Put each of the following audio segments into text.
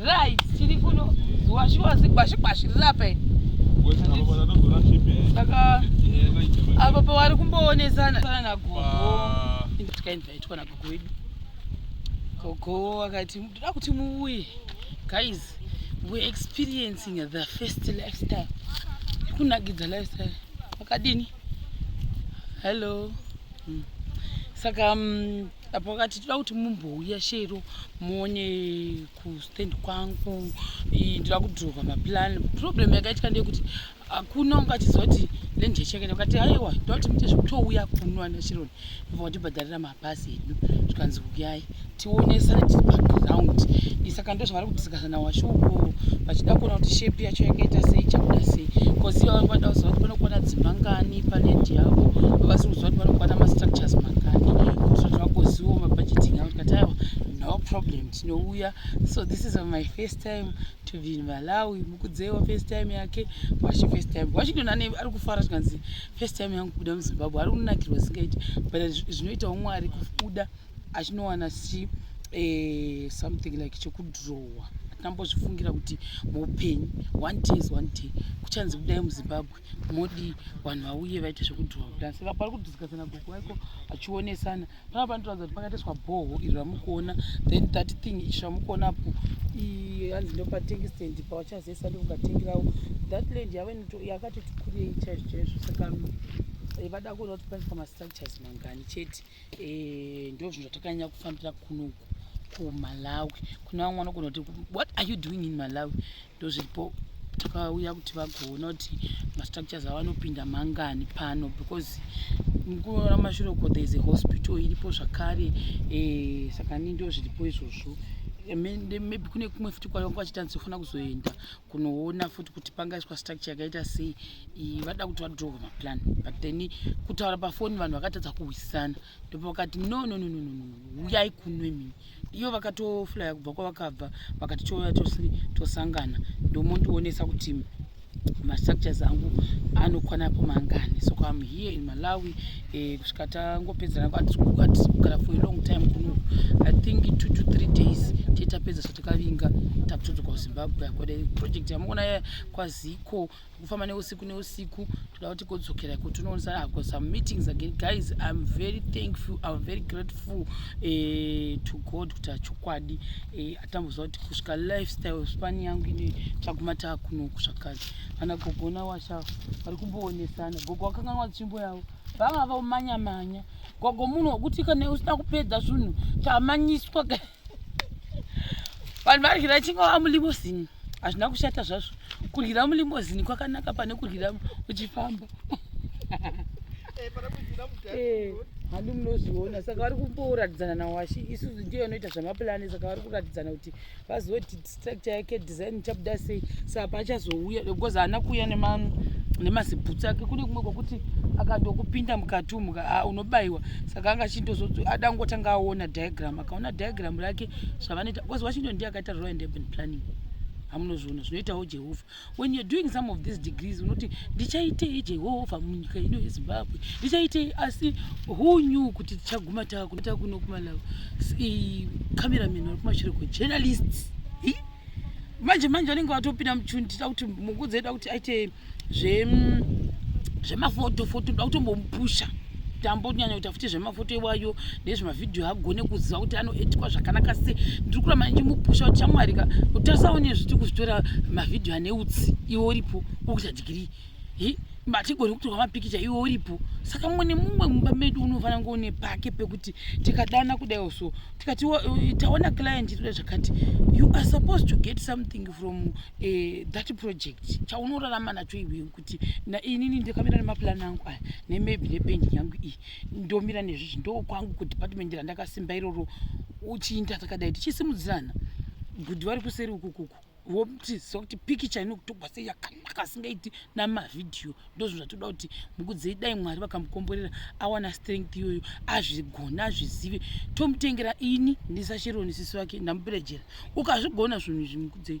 Right, tiri kuno washuwa zigwashi gwashi rirape. Saka apo pawari kumboonesana kana na gogo. Ah. Tikainvaitwa na gogo wedu. Gogo akati ndoda kuti muuye. Guys, we experiencing the first lifestyle. Kunakidza lifestyle. Makadini? Hello. Hmm. Saka um, apo vakati toda kuti mumbouya shero muone kustand kwangu ndoda kudrova maplan problem yakaitika ndeyekuti hakuna ungatizoti nenje chekene ukati haiwa ndoda kuti muite zvekutouya kuno ana sheron ivo vatibhadharira mabhasi edu zvikanzi uyai tionesane tiri paground isaka ndozvavari kutisika na washo uko vachida kuona kuti shape yacho yakaita sei chakuda sei cause iva vangu vada kuziva kuti vanokwana dzimba ngani paland yavo vavasi kuziva kuti vanokwana mastructures mangani kuitira kuti vagozivo mabudgeting avo tikati aiwa no problem tinouya so this is my first time to be in malawi mukudzeiwa first time yake washi first time wachidona ne ari kufara zvikanzi first time yangu kubuda muzimbabwe ari kunakirwa zingaiti but zvinoitawo mwari kubuda achinowana si eh, something like chekudrowa atambozvifungira kuti muupenyu one day is one day kuchanzi kudai muzimbabwe modi vanhu vauye vaite zvekudrowa kudai saka pari kudhiskasana gogo vaiko achionesana paa panotoradza kuti pakatiswa bhoho iri ramukuona then that thing ichi ramukuonapo hanzi ndopatengstand pawachazesa ndokukatengirawo that land yave yakatoti kurei chaizvo chaizvo saka eh, vada kuona kuti paiswa mastructures mangani chete eh, ndo zvinhu zvatakanyanya kufambira kunoku kumalawi kune vamwe vanogona kuti what are you doing in malawi ndo zviripo takauya kuti vagoona kuti mastructures avanopinda mangani pano because mukuva ramashure uko there is a hospital iripo zvakare eh, saka ni ndo zviripo izvozvo maybe kune kumwe futi kwavanga vachitanzi kufanira kuzoenda kunoona futi kuti pangaiswa structure yakaita sei vada kuti vadrowe maplan but then kutaura pafoni vanhu vakatadza kuhwisisana ndopavakati no no no no no uyai kunwe mini iyo vakatoflaya kubva kwavakabva vakati touya tose tosangana ndomondionesa kuti mastructures angu anokwana po mangani so am here in malawi eh, kusvika tangopedzana atisikukwatisiugara for a long time kuno i think two to three days titapedza zvatakavinga takutodzoka kuzimbabwe akwada project yamuona kwaziko kufamba neusiku neusiku toda kuti kodzokera iko tinoonesa i've got some meetings again guys i'm very thankful i'm very grateful uh, to god kuti achokwadi uh, eh, atamboziva kuti kusvika lifestyle spani yangu ine taguma taakunoku zvakare vana gogo nawasha vari kumboonesana gogo wakanganwa tsvimbo yavo vanga vamanyamanya gogo munhu wekuti kana usina kupedza zvinhu tamanyiswa guys vanhu varyira chingava mulimosini hazvina kushata zvazvo kuryira mulimosini kwakanaka pane kuryira uchifamba eh, eh, handi munozviona saka vari kumboratidzana nawashe isusu ndiyo inoita zvamapulani saka vari kuratidzana kuti vazoti structure yake design ichabuda sei saa paachazouya because haana kuuya nemazibhutsi ake kune kumwe kwakuti akatokupinda mukati umu ah, unobayiwa saka anga achindozodzo ada kungotanga aona diagram akaona diagram rake zvavanoita because washington ndiye akaita royal and urban planning hamunozviona zvinoitawo jehovha when you're doing some of these degrees unoti ndichaitei jehovha munyika ino yezimbabwe ndichaitei asi who knew kuti tichaguma takuta kuno kumalawi cameraman vari kumashure kwejournalists manje manje vanenge vatopinda muchundi tida kuti mungu dzeida kuti aite zvemafotofoto da kutombomupusha tambo kunyanya kuita futi zvemafoto iwayo nezvemavhidhiyo agone kuziva kuti anoetikwa zvakanaka se ndiri kuramba ndichimupusha kuti chamwari ka kuti asaone zviti kuzvitora mavhidhiyo ane utsi iwe uripo kokuita dhigirii hi matigoni kutorwa mapikicha iwe uripo saka mumwe nemumwe mumba medu unofanira kunge une pake pekuti tikadana kudaiwo so tikati eh, taona client itoda zvakati you are supposed to get something from uh, that project chaunorarama nacho iwewe kuti inini ndakamira nemaplan angu aya nemab nependi yangu iyi ndomira nezvizvi ndokwangu kudepartment randakasimba iroro uchiinda takadai tichisimudzirana bhudhi vari kuseri ukukuku votiziva kuti pikicha inokutogwa sei yakanaka asingaiti namavhidhiyo ndozvino zvatoda kuti mukudzei dai mwari vakamukomborera awana strength iyoyo azvigona azvizive tomutengera ini ndisasheroni sisi vake ndamuperejera ukazvigona zvinhu izvi mukudzei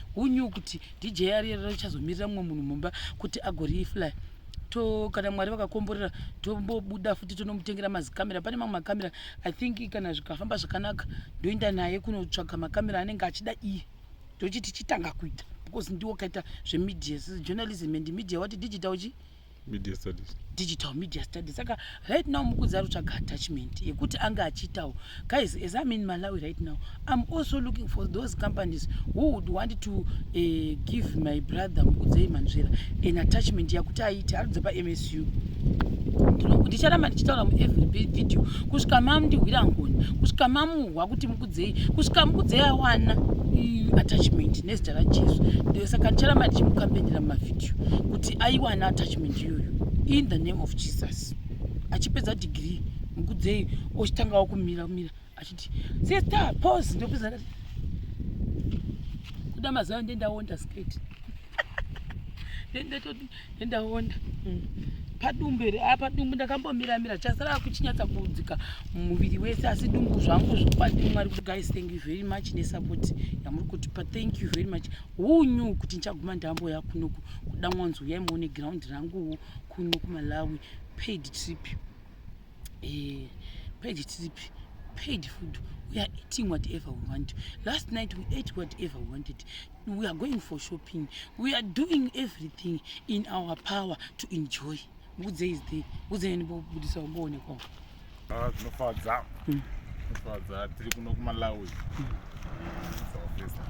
who knew kuti dj ariyarira richazomirira mumwe munhu mumba kuti agoriifly to kana mwari vakakomborera tombobuda futi tonomutengera mazikamera pane mamwe makamera i think kana zvikafamba zvakanaka ndoenda naye kunotsvaga makamera anenge achida iye ndochiti chitanga kuita because ndiwo kaita zvemedia journalism and media wati digital chi media studies digital media studies saka right now mukudzi ari kutsvaga attachment yekuti ange achiitawo guys as im in malawi right now im also looking for those companies who would want to uh, give my brother mukudzei manzvera an attachment yakuti aite arudze pamsu ndicharamba ndichitaura muevery video kusvika mamndihwira ngoni kusvika mamuhwa kuti dzei kusvika mukudzeyi awana attachment nezita rajesu ndosaka ndicharamba ndichimukambendera mumavhidhiyo kuti aiwana attachment iyoyo in the name of jesus achipedza degree mukudzeyi ochitangawo kumira kumira achiti sister pose ndopedza kuda mazuva ndendaonda skate ndendatoti ndaona mm. padumbu here a ah, padumbu ndakambomira mira chasara kuchinyatsa kuudzika muviri wese asi dumbu zvangu zvokwadi mwari kuti guys thank you very much nesupport yamuri kutipa thank you very much who knew kuti ndichaguma ndambo yakunoku kuda mwanzi uyai muone ground ranguwo kuno kumalawi paid trip eh, paid trip paid food we are eating whatever we want last night we ate whatever we wanted we are going for shopping we are doing everything in our power to enjoy mukudze is the kudzeni bobudisa umboonekwa ah tinofadza hmm. tinofadza tiri kuno kumalawi hmm.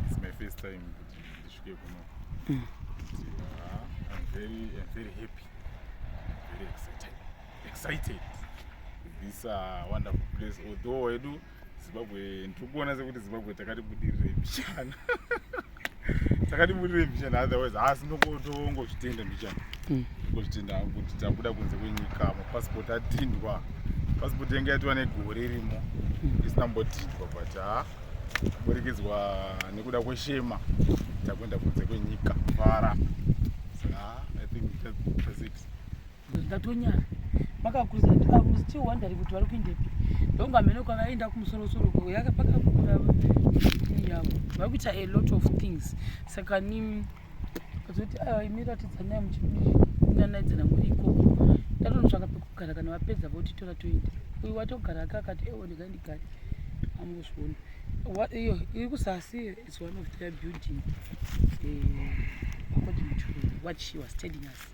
it's my first time kuti ndisvike kuno hmm. ah, i'm very i'm very happy very excited excited with this uh, wonderful place although edu zimbabwe ndikuona sekuti zimbabwe takati budirire mbichana takati budirire mbichana otherwise haasi ndokotongozvitenda mbichana hmm. ngozvitenda hangu kuti tabuda kunze kwenyika mapasipoti atindwa pasipoti yanga yatiwa negore irimo hmm. isina mbotindwa but ha ah, kuburikizwa nekuda kweshema takuenda kunze kwenyika fara ah, i think that's it because ndatonyara makakuza akuzichiwa ndari kuti vari kuindepi ndongo amene kwavaenda kumusorosoro kuyaka pakakura yavo vari kuita a lot of things saka ni kazoti aiwa imi ratidzanai muchinanaidzana muri ikoko ndatonotsvaka pekugara kana vapedza votitora toenda uyu watogara aka akati ewo ndikai ndigari amuzviona iyo iri kusasi is one of their building eh, according to what she was telling us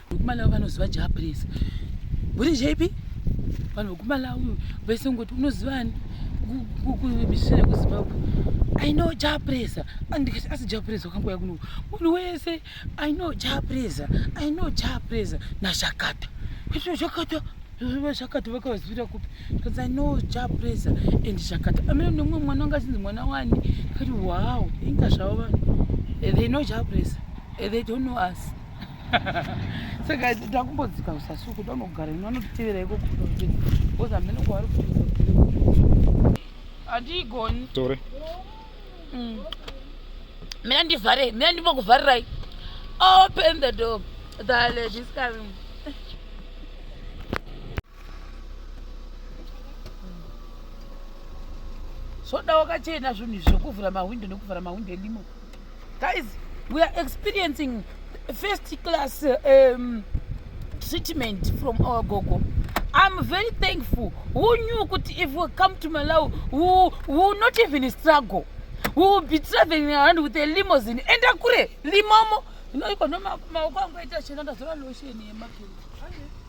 Kumalawi vanoziva ja please. Buri JP vanhu vekumalawi vese ngoti unozivani kumisire kuzimbabwe i know japresa andikati asi japresa wakangouya kuno munhu wese i know japresa i know japresa nazvakata kuitira zvakata zvakata vakavazivira kupi because i know japresa and zvakata amene nemumwe mwana wanga achinzi mwana wani kati wow inga zvavo vanhu they know japresa they don't know us saka ndakumbodzika kusasuku ndanogara ino anotitevera iko because hamene kwavari hatiigoni tore mm. mina ndivhare mina ndimbokuvharirai open the door the ladies coming zvoda wakachena zvinhu izvi zvekuvhura mahwindo nekuvhara mahwindo elimo guys we are experiencing first class um, treatment from our gogo i'm very thankful who knew kuti if we come to malawi we will not even struggle we will be traveling around with a limosin enda kure limomo inoiko no maoko angu aita chena ndazora lotion yemakendi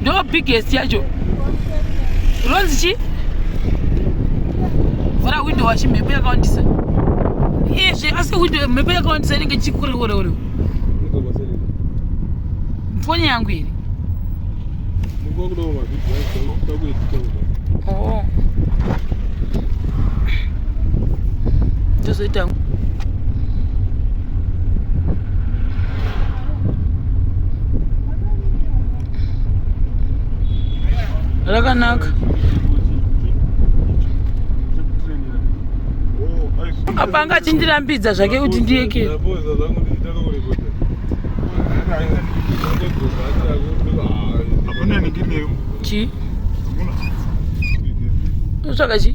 ndo biggest yacho ronzi chi vhura window wachi mhepo yakawandisa izve asi window mhepo yakawandisa inenge chikureoreoreo foni yangu iri oh. tozoita oh. rakanaka apa anga achindirambidza zvake kuti ndiyekere chi utsvaka chi